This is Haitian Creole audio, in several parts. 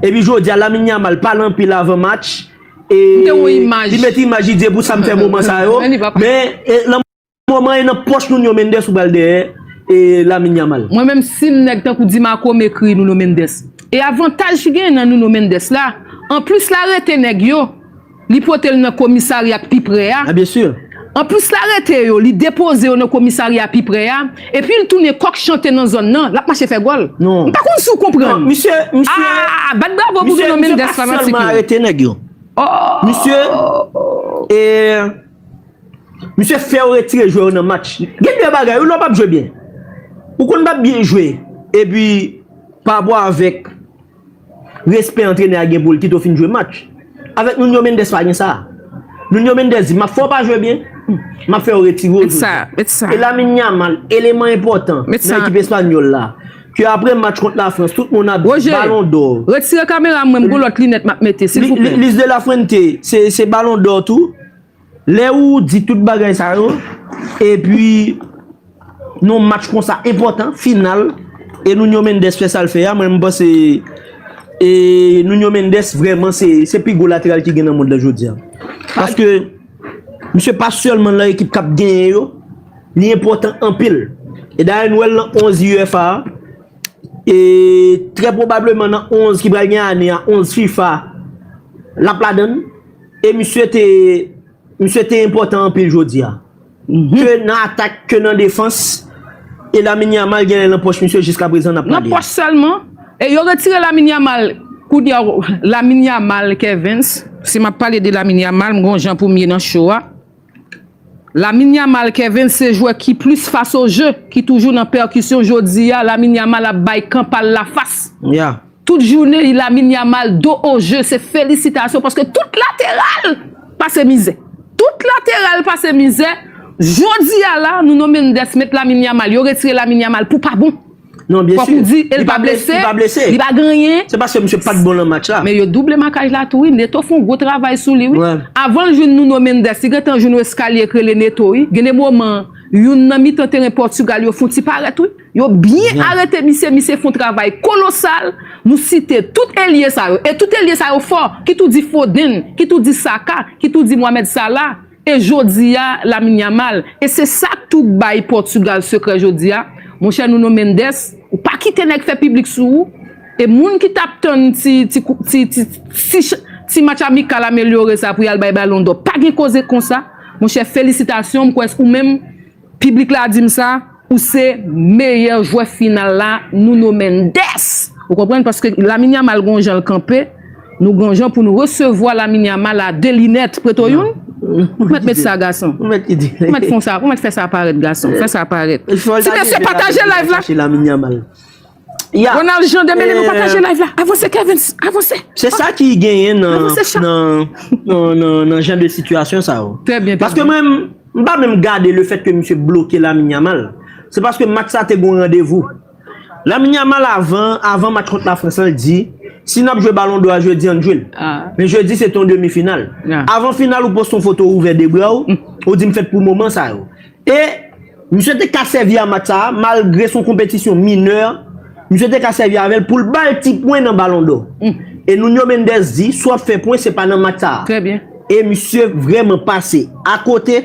Epi jodi a Lamine Yamal pale anpil avan match e li met imaj li di e pou sa m fè moman sa yo men nan moman e nan pòch Nuno Mendes ou pral dèyè e Lamine Yamal. Mwen menm sim nèg tankou Di Marco m ekri Nuno Mendes e avantaj ki genyen nan Nuno Mendes la anplis la rete nèg yo Li pote l nan komisarya k pi pre a. Anplis l arete yo, li depoze yo nan komisarya pi pre a, epi l tounen kòk chante nan zòn nan, l ap mache fè gòl. M pa konn si w konprann. Aa! Bat bravo pou Bruno Mendès fanatik yo. Ooh! Misye fè yo retire jwè yo nan match. Gen de bagay wi lè w pa p jwe byen. Ou konn pa p byen jwe, epi pa bo avèk Respè antrenè a gen pou l kite w fin jwe match. Avèk Nuno Mendes pa gen sa. Nuno Mendes di, m ap fè w pa jwe byen, m ap fè yo retire w jodi a. E Lamine Yamal, eleman enpòtan nan ekip espanyòl la, ke aprè match kont Lafrans tout moun ap di balon dò. Lis de la Fuente se balon dò tou. Lè ou di tout bagay sa yo, epi nan yon match konsa enpòtan, final, e Nuño Méndez fè sa l fè a, mwen menm m panse Nuño Méndez vrèman se pi gwo lateral ki gen nan mond lan jodi a. Paske misye pa sèlman nan ekip k ap genyen yo, li enpòtan anpil. E dayè nou wè l nan 11 UEFA a, e trè pwobableman nan 11 ki pral gen ane a, 11 fifa, l ap ladann. E misye te, misye te enpòtan anpil jodi a. Ke nan atak, ke nan defans. E Lamine Yamal genlè nan pòch misye jiskaprezan n ap pale a. Nan pòch sèlman. E yo retire Lamine Yamal, kounye a, Lamine Yamal, Kervens, si m ap pale de Lamine Yamal, m gen yon jan pou m ye nan cho a. Lamine Yamal Kevens se jwè ki plis fas o je ki toujou nan pèkisyon jodi a Lamine Yamal ap bay kan pa l la fas tout jounen y Lamine Yamal do o je se felisitasyon paske tout lateral pase mizè tout lateral pase mizè jodi a la nou nonmen n 10 met Lamine Yamal yo retire Lamine Yamal pou pa bon. Non byen si, li pa blese, li pa gen anyen. Se paske misye pat bon lan match la. Men yo double makaj la tou wi, Neto fon gwo travay sou li wi. Avan l jwenn Nuno Mendes, li gentan jwenn yon eskalye k rele Neto wi. Gen de moman, youn nan mitan teren Pòtigal yo fon ti parèt wi. Yo byen arete misye, misye fon travay kolosal. Nou site tout elye sa yo, e tout elye sa yo fò, ki tou di Foden, ki tou di Saka, ki tou di Mohamed Salah. E jodi a, Lamine Yamal. E se sa k tou k bay Pòtugal sekrè jodi a. Monchè Nuno Mendes, ou pa kite nèg fè piblik sou ou. E moun ki t ap tann ti ti match amikal amelyore sa pou y al bay balondò, pa gen koze konsa. Monchè felisitasyon, m kwè se ou menm. Piblik la di m sa, ou se meyè jwè final la Nuno Mendes! Ou konprann paske Lamine Yamal gon jan l kanpe, nou gon jan pou n resevwa Lamine Yamal a de linèt preto youn? Ou mèt met sa gason. Ou mèt kite. Ou mèt fon sa, ou mèt fè sa parèt gason. Fè sa parèt. Ti mesye pataje live la. Ya. Ronald Jean Demelin nou pataje live la avanse Kervens avanse. Se sa ki genyen nan jan de sitiyasyon sa yo. Trè byen. Paske mwen m pa menm gade le fèt ke misye bloke Lamine Yamal. Se paske match sa te gon randevou. Lamine Yamal avan avan match kont la Frans lan l di si nap jwe balon dò a jodi ann jwe l. Men jodi se te yon demi final. Avan final ou poste yon foto ou ouvè 2 bra w ou di m fèt pou moman sa yo. E, misye te ka sèvi a match sa a, malgre son konpetisyon minè, misye te ka sèvi avè l pou l ba l ti pwen nan Balon dò. E Nuño Méndez di, si w ap fè pwen, se pa nan match sa a. Trè byen. E misye vrèman pase akote.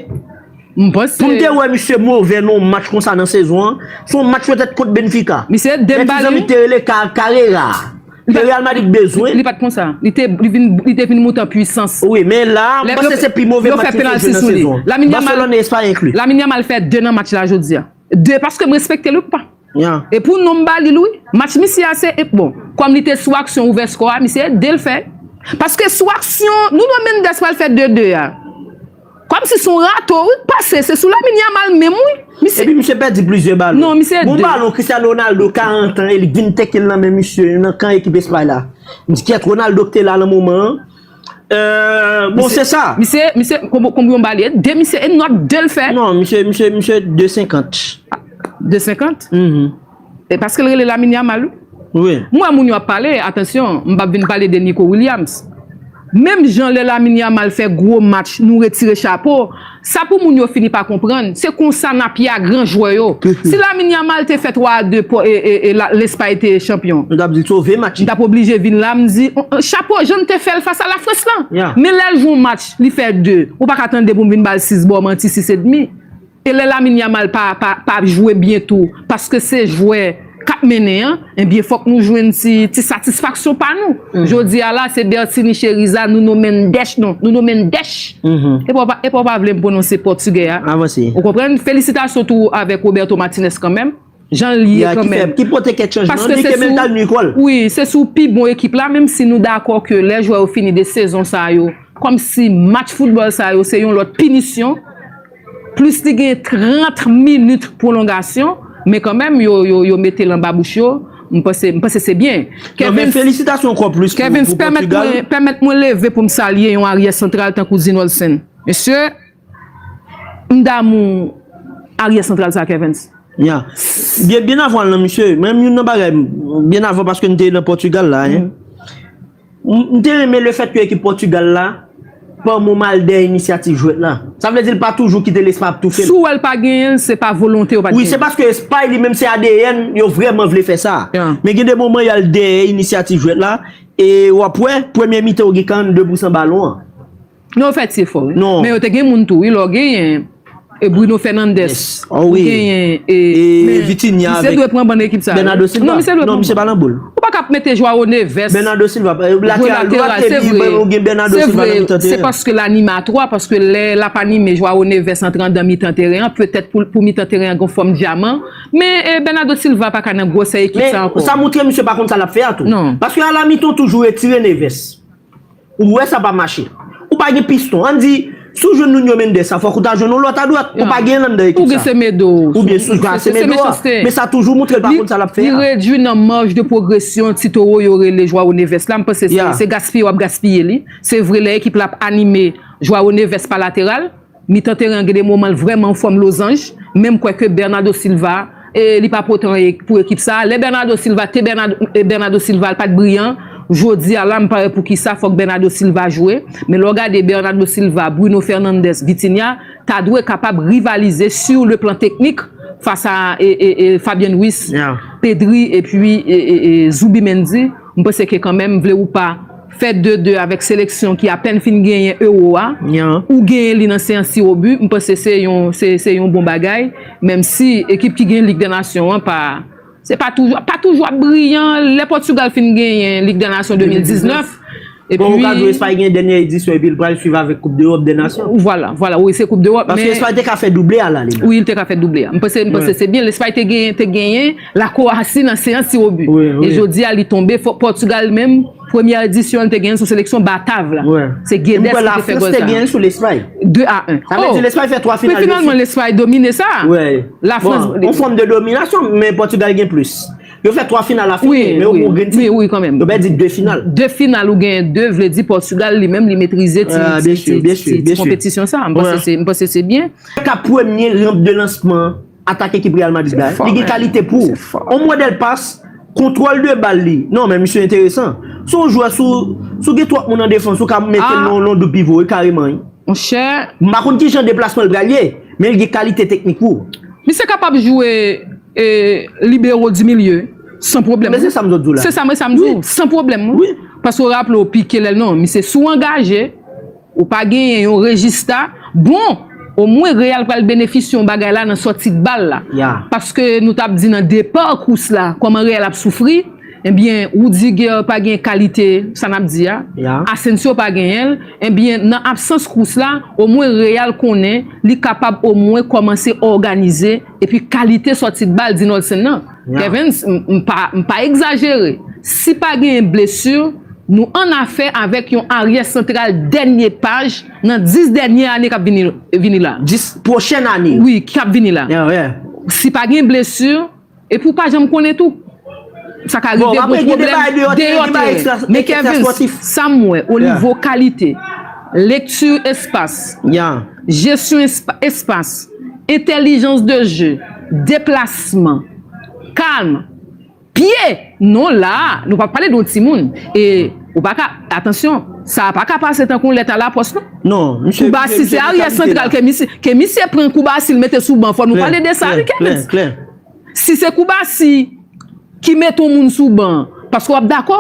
M panse. Pou m te wè misye move nan yon match konsa nan sezon an, se yon match petèt kont Benfica. Misye Dembali. Mèt Tizan Mik te rele Carrera a. Ke Real Madrid bezwen. Li pat konsa. Li te vin moute an pwisans. Wi, men la, mwen panse se pi move match li te jwe nan sezon an. Barcelone e Espay enkli. Lamine Yamal fè 2 nan match la jodi a. 2, paske m respekte l wi kpa. E pou non m ba li l wi. Match misye a se, bon, kòm li te sou aksyon ouvè skò a, misye ede l fè. Paske sou aksyon, Nuno Mendes pral fè 2, 2 a. Kòm si son rato wi k pase se sou Lamine Yamal menm wi misye. Epi misye pèdi plizyè balon. Non misye 2. Bon balon Cristiano Ronaldo 40 ans e li k vin teke l nan men misye nan kan ekip Espay la. M di kyèt Ronaldo k te la nan moman an. Bon se sa. Misye misye konbyon ba li e 2 misye e nòt 2 l fè. Non misye misye 2 50. 2 50? Mph. E paskel rele Lamine Yamal wi. Wi. M wè moun yo ap pale, atansyon, m pap vin pale de Nico Williams. Menm jan lè Lamine Yamal fè gwo match nou retire chapo, sa pou moun yo fini pa konprann, se konsa n ap ye a gran jwè yo. Si Lamine Yamal te fè 3 a 2 po e e e la Lespay te chanpyon. Nou tap di sove match. M tap oblije vin la m di, chapo jan n te fè l fas a Lafrans lan. Ya. Men lè l jwe yon match li fè 2, ou pa ka tande pou m vin ba l 6 ba w manti 6 edmi. E lè Lamine Yamal pa pa ap jwe byen tou paske se jwè k ap mennen an ebyen fòk nou jwenn ti ti satisfaksyon pa nou. Jodi a la se Bertinie Cheriza, Nuno Mendes non Nuno Mendèch epa w pa vle m pwononse pòtigè a ou konprann? Felisitasyon tou avèk Roberto Martinez kanmenm. Jan l ye kan menm. Ki pote kèk chanjman. Li ke menm tal nwi kò l. Wi, se sou pi bon ekip la, menm si nou dakò ke lè jwè yo fini de sezon sa yo, kòm si match foutbòl sa yo se yon lòt pinisyon, plis li gen 30 minit pwolongasyon, men kan menm yo mete l anba bouch yo, m panse, m panse se byen. Non men felisitasyon ankò plis pou Pòtigal. Kevens, pèmèt mwen leve pou m salye yon aryè santral tankou Zinolsen. Mesye! M damou aryè santral sa kervens. Ya. Byen byen avan lan misye, mwen menm youn nan bagay m, byen avan paske m te nan Portugal la hein, m te renmen le fèt ke ekip Portugal la pa mou mal dèyè inisyativ jwèt la. Sa vle di l pa toujou kite l Espay ap toufe l. Si w wè l pa genyen l, se pa volonte yo pa t genyen l. Wi, se paske Espay li menm se adn yo vrèman vle fè sa. Men gen de moman y al dèyè inisyativ jwèt la e w ap wè premye mitan yo gen 42 pou san balon an. Non yo fè ti efò wi. Men yo te gen moun tou wi lè w genyen e Bruno Fernandes ou genyen e misye dwe pran ban ekip sa yo non misye dwe pran ban ou pa ka ap mete Joao Neves jwe lateral se vre se vre se paske l anime a 3 paske lè l ap anime Joao Neves antre andan mitan teren an petèt pou mitan teren an gen yon fòm dyaman men Bernado Silva pa ka nan gwosè ekip sa ankò. Men sa moutre misye pa konn sa l ap fè a tou paske a la mitan w toujou retire Neves. Ou wè sa pa mache. Ou pa gen piston. An di, si w jwenn Nuno Mendes sa, fòk ou ta jwenn yon lòt adwat. Ou pa gen l anndan ekip sa. Ou gen Semedo. Ou gen Semedo a. Men sa toujou moutre l pa konn sa l ap fè a. Li redui nan marge de progression ti towo yo rele Joao Neves la. M panse se gaspiye w ap gaspiye li. Se vre lè ekip la ap anime, Joao Neves pa lateral. Mitan teren an gen 2 moman l vrèman an fòm lozanj, men m kwè ke Bernardo Silva e li pa pwotè anyen pou ekip sa a. Lè Bernardo Silva te Bernardo Silva l pa t briyan, jodi a la m pa wè poukisa fòk Bernardo Silva jwe. Men lè w gade Bernardo Silva, Bruno Fernandes, Vitinha ta dwe kapab rivalize sur le plan teknik fas a Fabian Ruiz, Pedri epi Zubimendi, m panse ke kanmenm vle ou pa, Fè 2 2 avèk seleksyon ki apèn fin genyen Euro a, ou genyen li nan seyans tirobi, m panse se yon bon bagay, menmsi ekip ki gen Lig dè Nasyon an pa toujou ap briyan, lè Pòtigal fin genyen Lig dè Nasyon 2019. Bon, ou ka di Espay gen dènyè edisyon epi l pral swiv avèk Koup dEròp dè Nasyon. Vwala, vwala, wi se Koup dEròp men. Paske Espay te ka fè double a la li la. Wi, li te ka fè double a. M panse se byen, Espay te genyen. La Croatie nan seyans ti robu e jodi a li tonbe fò Portugal menm premyè edisyon an li te genyen sou seleksyon batav la se Guedes ki te fè gòl sa. E m kwè la France te genyen sou Lespay. 2 a 1. Sa vle di Lespay fè 3 final de suit. Men finalman Lespay domine sa. La France. Bon, yon fòm de dominasyon men Portugal gen plis. Yo fè 3 final la fini men yo gen ti. Wi, wi kan menm. Yo pèdi 2 final. 2 final ou genyen 2 vle di Portugal li menm li metrize ti konpetisyon sa. M panse se byen. Ka premye ramp de lansman. Atak ekip Real Madrid la, li gen kalite pou. On modèl pas, kontwòl de bal li. Non men misye enteresan. Se yon jwè sou, si w gen twòp moun an defans, ou ka mete l nan yon doub pivo wi kareman wi. Monchè. M pa konn kijan deplasman l pral ye, men li gen kalite teknik pou. Misye kapab jwe libero di milye san pwoblèm wi. Men se sa m sot di w la. Se sa m di w, san pwoblèm wi. Paske w raple w Pique lè l nan, misye sou angaje. Ou pa genyen yon rejista bon o mwen real pral benefis yon bagay la nan sòti bal la paske nou tap di nan depa kous la kòman real ap soufri ebyen roudiger pa gen kalite sa nap di a asensio pa genyen l ebyen nan absans kous la o mwen real konnen li kapab o mwen kòmanse òganize epi kalite sòti bal dinòlsen nan. Kevens, M pa egzajere. Si pa genyen blesu, nou an afè avèk yon aryè santral dènye paj nan 10 dènye ane k ap vini la. 10 pwochen ane? Wi, k ap vini la. Si pa genyen blesu, epi ou pa janm konnen tou. Sa ka rive gwo pwoblèm deyò teren. Men Kevens, sa m wè o nivo kalite, lekti espas. Jesyon espas, entèlijans de je, deplasman, kalm, pye! Non la a, nou pa pale de yon timoun. E ou pa ka, atansyon, sa a pa ka pase tankou yon lèt alapòs non. Non, misye gen kalite la. Kouba si se aryè santral ke misye pran kouba si l mete sou ban fò nou pale de sa wi Kenneth. Klè, klè, klè. Si se Koubasi ki mete yon moun sou ban an, paske w ap dakò,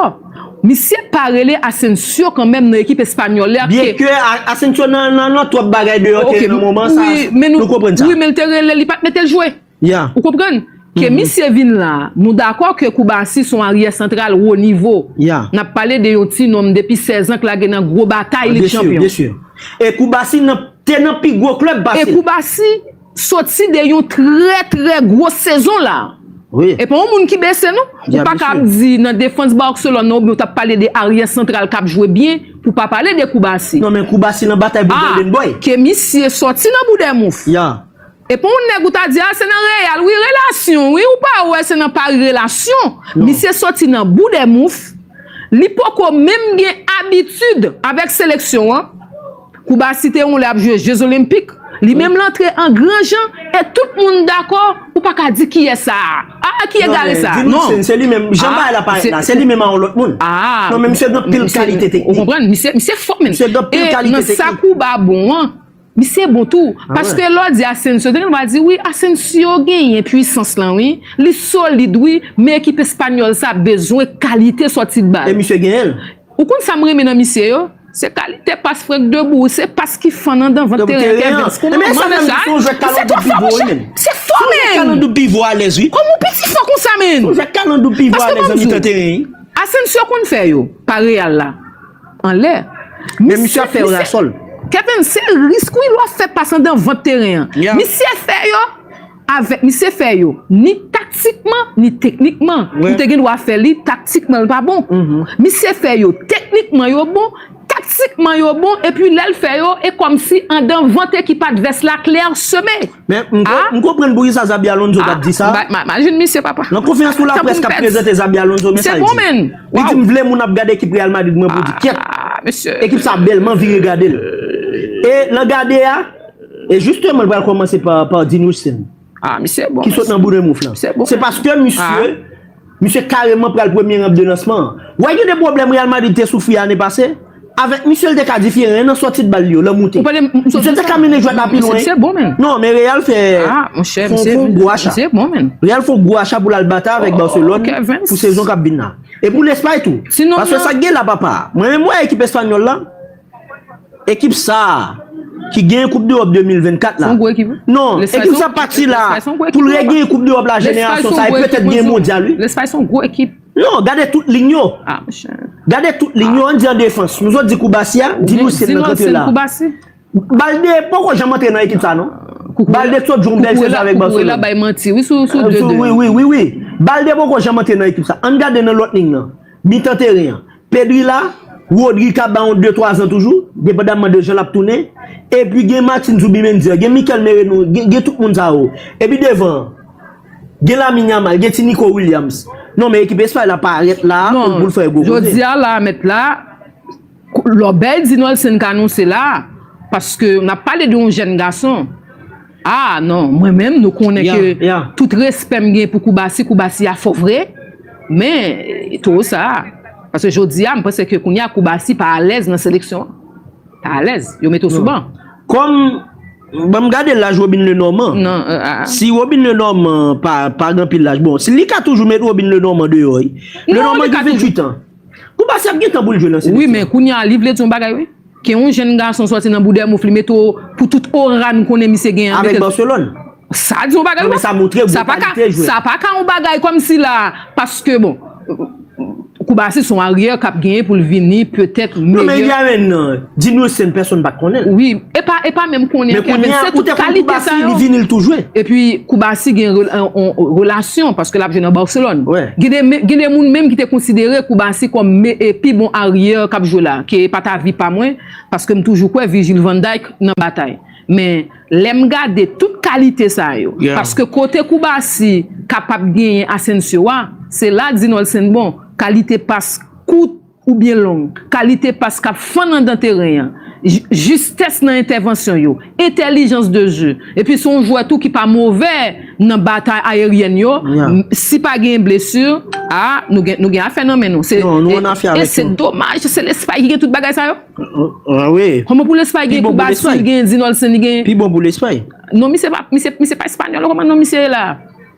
misye pa rele Asensio kanmenm nan ekip espanyòl la pske. Byenke Asensio nan twòp bagay deyò teren nan moman sa a, nou konprann sa. Wi, men li te rele l, li pa t mete l jwe. Ou konprann? Ke misye vin la a, nou dakò ke Koubasi se yon aryè santral wo nivo. N ap pale de yon ti nonm depi 16 an k lage nan gwo batay lig chanpyon. Byensi, byensi. E Koubasi te nan pi gwo klèb pase l. E Koubasi. soti de yon trè trè gwo sezon la e pa yon moun ki bese non ou pa ka ap di nan defans Barcelone nan oubyen ou tap pale de aryè santral kap jwe byen pou pa pale de Koubassi non men Koubassi nan batay pou Golden Boy a ke misye soti nan Boudèmouf e pa yon nèg ou ta di a se nan Real wi relasyon wi ou pa wè se nan Paris relasyon misye soti nan Boudèmouf li poko menm gen abitid avèk seleksyon an. Kouba si te yon lè ap jwe je zolenpik li menm l antre an gran jan e tout moun dakò ou pa ka di kiyès sa a aa ki egare sa a non aa ou konprann misye fò menn e nan sa kouba bon an misye bon tou paske lè w di asensyo gen moun ki va di wi asensyo genyen pwisans lan wi li solid wi men ekip espanyòl sa bezwen kalite sòti ban e misye genyen l. Ou konn sam renmen nan misye yo se kalite pas frenk debou wi se pas ki fann andan vant teren kevens kouman manzè sa misye twò fò monchè misye fò menn kòman ou piti fò konsa menn paske banm diw asensio konn fè yo pa real la anlè misye fè kevens se risk wi lè wap fè pas andan vant teren misye fè yo. Avèk misye fè yo ni taktikman ni teknikman ou te gen dwa fè li taktikman l pa bon misye fè yo teknikman yo bon taktikman yo bon epi lè l fè yo e kòmsi andan vant ekip advès la klèsome a M konprann poukisa Xabi Alonso t ap di sa a Imajine misye papa Nan konferans pou laprès k ap prezante Xabi Alonso men sa l di Li di m vle moun ap gade ekip Real Madrid mwen pou di kyèt Ekip sa a bèl m anvi regade l e nan gade a E jisteman l pral kòmanse pa di nou sèm. Ah misye bon mesye. Ki sot nan bouda mouf lan. Se paske misye, misye kareman pral premye ramp de lansman an. Wè gen de pwoblèm Real Madrid te soufri ane pase? Avèk misye l te ka diferan nan sòti de bal li yo, lè moute. Misye te ka mennen jwèt la pi lwen. Misye bon menn. Non men Real fè fon gwo acha. Misye bon menn. Real fon gwo acha pou l al bata avèk Barcelone pou sezon k ap vin nan. E pou Lespay tou. Paske sa k gen la papa. Mwen menm wè ekip espanyòl la. Ekip sa a, ki genyen koup dEròp 2024 la, non, ekip sa pa ti la, pou l regenyen koup dEròp la jenerasyon sa a, e petèt genyen mondyal wi. Lespay son gwo ekip. Non, gade tout lign yo. A monchè. Gade tout lign yo, an di an defans. Nou zo di Koubassi a, di Lucien nan kanpe la. Balde poko janm antre nan ekip sa non. Balde t sot jwe yon bèl sezon avèk Barcelone. Koukourela bay manti wi sou 2-2. Wi wi wi wi wi. Balde poko janm antre nan ekip sa. An gade nan lòt lign nan. Mitan teren an, Pedri la, Rodri ka ba yon de twa zan toujou, depandamman de jan l ap tounen. Epi gen Martin Zubimendi, gen Mikel Merino, gen tout moun sa yo. Epi devan an, gen Lamine Yamal, gen ti Nico Williams. Non men ekip Espay la parèt la a pou l fè gwo koze. Jodi a la a mèt la a. Lòbèy di Nolsen ka nou se la a paske n ap pale de yon jèn gason a non mwen menm nou konnen ke tout respè m gen pou koubasi koubasi a fò vre men towo sa a paske jodi a m panse ke kounye a koubasi pa alèz nan seleksyon an pa alèz yo mete w sou ban. Kòm ban m gade laj Robin Le Normand si Robin Le Normand pa gen anpil laj bon li ka toujou met Robin Le Normand deyò wi Le Normand gen 28 an. Pou Bassi ap gentan boul jwe nan seleksyon. Wi men kounya li vle di yon bagay wi. Ke yon jenn gason sòti nan Boudèmouf li mete w pou tout ora nou konnen misye gen an. Avèk Barcelone. Sa di yon bagay wi. Non men sa montre gwo kalite jwè. Sa pa ka yon bagay kòm si la paske bon. Kou Bassi son aryè kap genyen pou l vini petèt meyè. Non men Idiamen nan. Di nou sen pèsonn pat konnenl. Wi epa epa menm konnen anken men se tout kalite sa yo. Epi koubasi gen yon relasyon paske lap jwe nan barcelon. Gen de moun menm ki te konsidere koubasi kom pi bon aryè kap jwe la ke epat avi pa mwen paske m toujou kwè vijil vanday nan batay men lèm gade tout kalite sa yo paske kote koubasi kapab genyen asensio a se la di nolsen bon kalite pas kout ou byen long, kalite pas k ap fann anndan teren an, jistès nan entèvansyon yo, entèlijans de jeu, epi se yon jwè tou ki pa move nan batay ayeryèn yo, si pa genyen blesu, a, nou gen afè nan men nou. Non, nou an afè avèk yo. E se domaj, se Lespay ki gen tout bagay sa yo? An, wi. Kòman pou Lespay gen Koubasou, li gen Edin Olsen, li gen. Pi bon pou Lespay. Non, misye pa, misye pa Espanyòl, kòman non misye ye la a?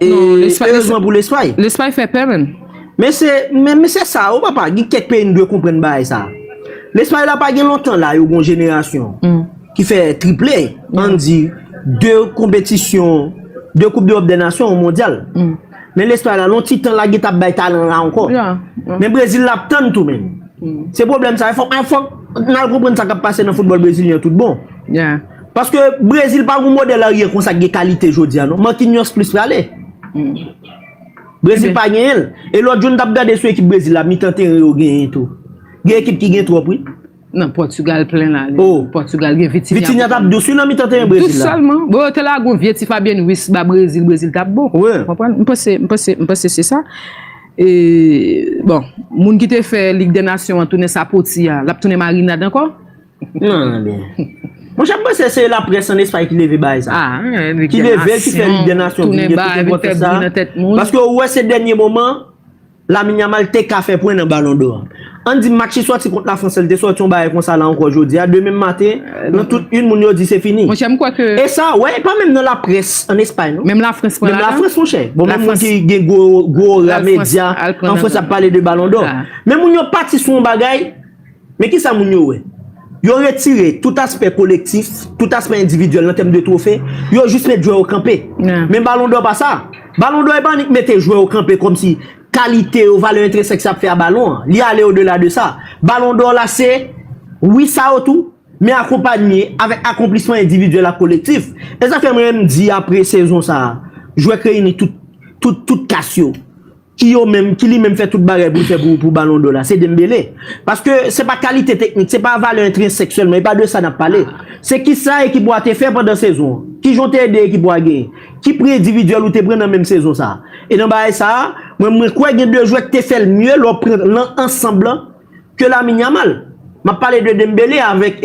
E erezman pou Lespay. Lespay fè pè menm. Men se, men men se sa ou papa, gen kèk peyi nou dwe konprann bagay sa. Lespay la pa gen lontan la yo gon jenerasyon ki fè triple, ann di 2 konpetisyon, 2 koup deròp dè nasyon, 1 mondyal. Men Lespay la lon ti tan la gen tap bay talan la ankò. Men Brezil la ap tann tou menm. Se pwoblèm sa, fòk, fòk nan konprann sa kap pase nan foutbòl brezilyen tout bon. Paske Brezil pa gon modèl aryè konsa ki gen kalite jodi a non. Marquinhos plis prale. Brezil pa genyen l. E lòt jou n t ap gade sou ekip Brezil la, mitan teren yo genyen tou. Gen ekip ki gen twòp wi. Nan Pòtugal plen la ale. Oh. Pòtugal gen Vitinha. Vitinha t ap dous wi nan mitan teren Brezil la. Dous sèlman. Bon yo te lage yon vye ti Fabien Ruiz ba Brezil, Brezil t ap bon. Wi. Ou konprann? M panse, m panse, m panse se sa. E, bon, moun ki te fè Lig dè Nasyon an tounen sapoti a, l ap tounen marinad ankò? Monchè m panse se la près an Espay ki leve bagay sa. Ki leve l ki fè lig dè nasyon vin gen tout enpòtans sa. Paske ou wè se dènye moman Lamine Yamal te ka fè pwen nan balon dò. An di match li sòti kont Lafrans la li te sòti yon bagay konsa la ankò jodi a demen maten nan tout yn moun yo di se fini. E sa wè e pa menm nan la près an Espay non. Menm Lafrans pran ladan. Menm Lafrans monchè. Bon menm moun ki gen gwo orè medya an Frans ap pale de balon dò. Men moun yo pati sou yon bagay. Men kisa moun yo wè? Yo retire tout aspè kolektif, tout aspè endividyèl nan tèm de twofe, yo jis met jwè yo kanpe. Men Balon dò pa sa. Balon dò e pa annik mete jwè yo kanpe kòmsi kalite yo, valè entrensèk sa fè a balon an. Li ale odela de sa. Balon dò la se, wi sa yo tou, men akonpanye avèk akonplisman endividyèl ak kolektif. E sa fè m renmn di apre sezon sa a, jwè k reyini tout, tout, tout kas yo. Ki yo menm, ki li menm fè tout bagay pou l fè pou balon dò la? Se Dembele. Paske se pa kalite teknik, se pa valè entrensèk sèlman, e pa de sa n ap pale. Se ki sa ekip ou a te fè pandan sezon an? Ki jan w te ede ekip ou a genyen? Ki pri endividyèl ou te pran nan menm sezon sa a? E nan bagay sa a, mwen kwè gen de jwè k te fè l mye lè w pran lan ansanb lan, ke Lamine Yamal. Map pale de Dembele avèk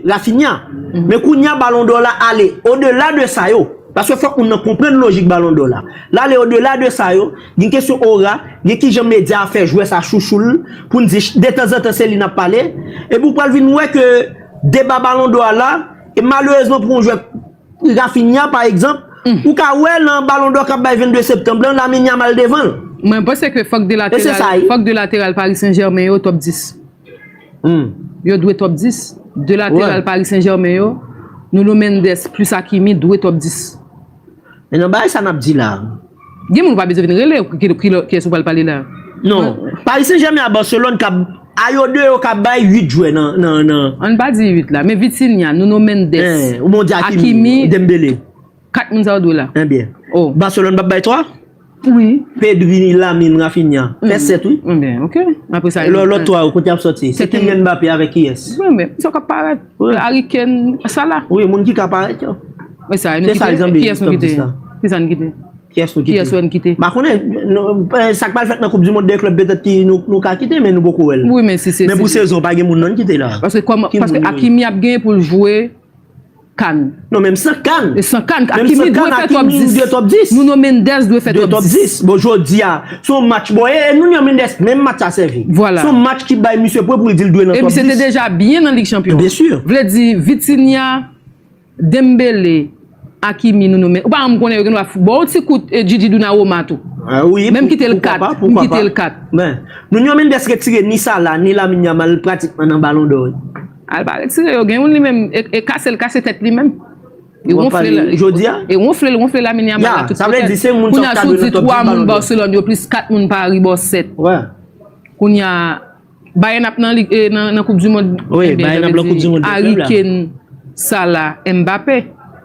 Raphinha. Men kounya balon dò la ale odela de sa yo. Paske fòk moun nan konprann lojik balon dò la. Lale odela de sa yo. Gen kesyon ora, gen kijan medya a fè jwè sa chouchou l. Pou n di detanzantan se li nap pale. Epi ou pral vin wè ke deba balon dò a la. E malerezman pou yon jwè. Raphinha pa egzanp, ou ka wè lan balon dò kap bay 22 septanb lan, Lamine Yamal devan l. Mwen panse ke fòk 2 lateral, fòk 2 lateral Paris Saint Germain yo top 10. Yo dwe top 10. 2 lateral Paris Saint Germain yo, Nuno Mendes plus Hakimi dwe top 10. Menan bagay sa nap di la. Gen moun ou pa bezwen vin rele ou kiyès ou pral pale la. Non. Paris Saint Germain a Barcelone kap a yo 2 yo kap bay 8 jwè nan. Ann pa di 8 la men Vitinha, Nuno Mendes, Hakimi, Dembele. 4 moun sa yo dwe la. Ebyen. Barcelone pap bay 3? Wi. Pedri, Lamine, Raphinha. Fè 7 wi. Ebyen ok. Aprè sa. Lòt 3 yo kote yap soti? Se Kylian Mbappé avèk kiyès? Mwen menm. Sa yo kap parèt. Wi ariken sa la. Wi moun ki ka parèt yo. E sa nou kite kiyès nou kite. Ki sa nou kite. Kiyès nou kite. Kiyès wè nou kite. Ba konnen sak pral fèt nan koup di mond 2 klèb petèt ki nou ka kite men nou poko wèl. Wi men si se. Men pou sezon pa gen moun nan kite la. Paske akimi ap gen pou l jwe kan. Non menm san kann. E san kann. Menm san kann Hakimi dwe top 10. Nuno Mendes dwe fè top 10. Bon jodi a son match bon e Nuno Mendes menm match sa sèvi. Vwala. Son match ki bay misye pwen pou l di l dwe nan top 10. E misye te deja byen nan Lig Chanpyon. Byen sur. Vle di Vitinha, Dembele, Hakimi, Nuno Mendes. Ou pa rann m konnen yo gen dwa fou. Bon yon ti kout Djidji Dounaroma tou. A wi. Menm kite l 4. Poukwa pa. Poukwa pa. Kite l 4. Ben. Nuno Mendes retire ni Salah ni Lamine Yamal pratikman nan balon dò. Al pa retire yo gen youn li menm e kasel kase tèt li menm e wonfle la e wonfle l wonfle Lamine Yamal la tout kote l kounya sou di 3 moun Barcelone yo plis 4 moun Paris bò 7 kounya Bayern ap nan lig nan koup du mond Harry Kane Salah Mbappé.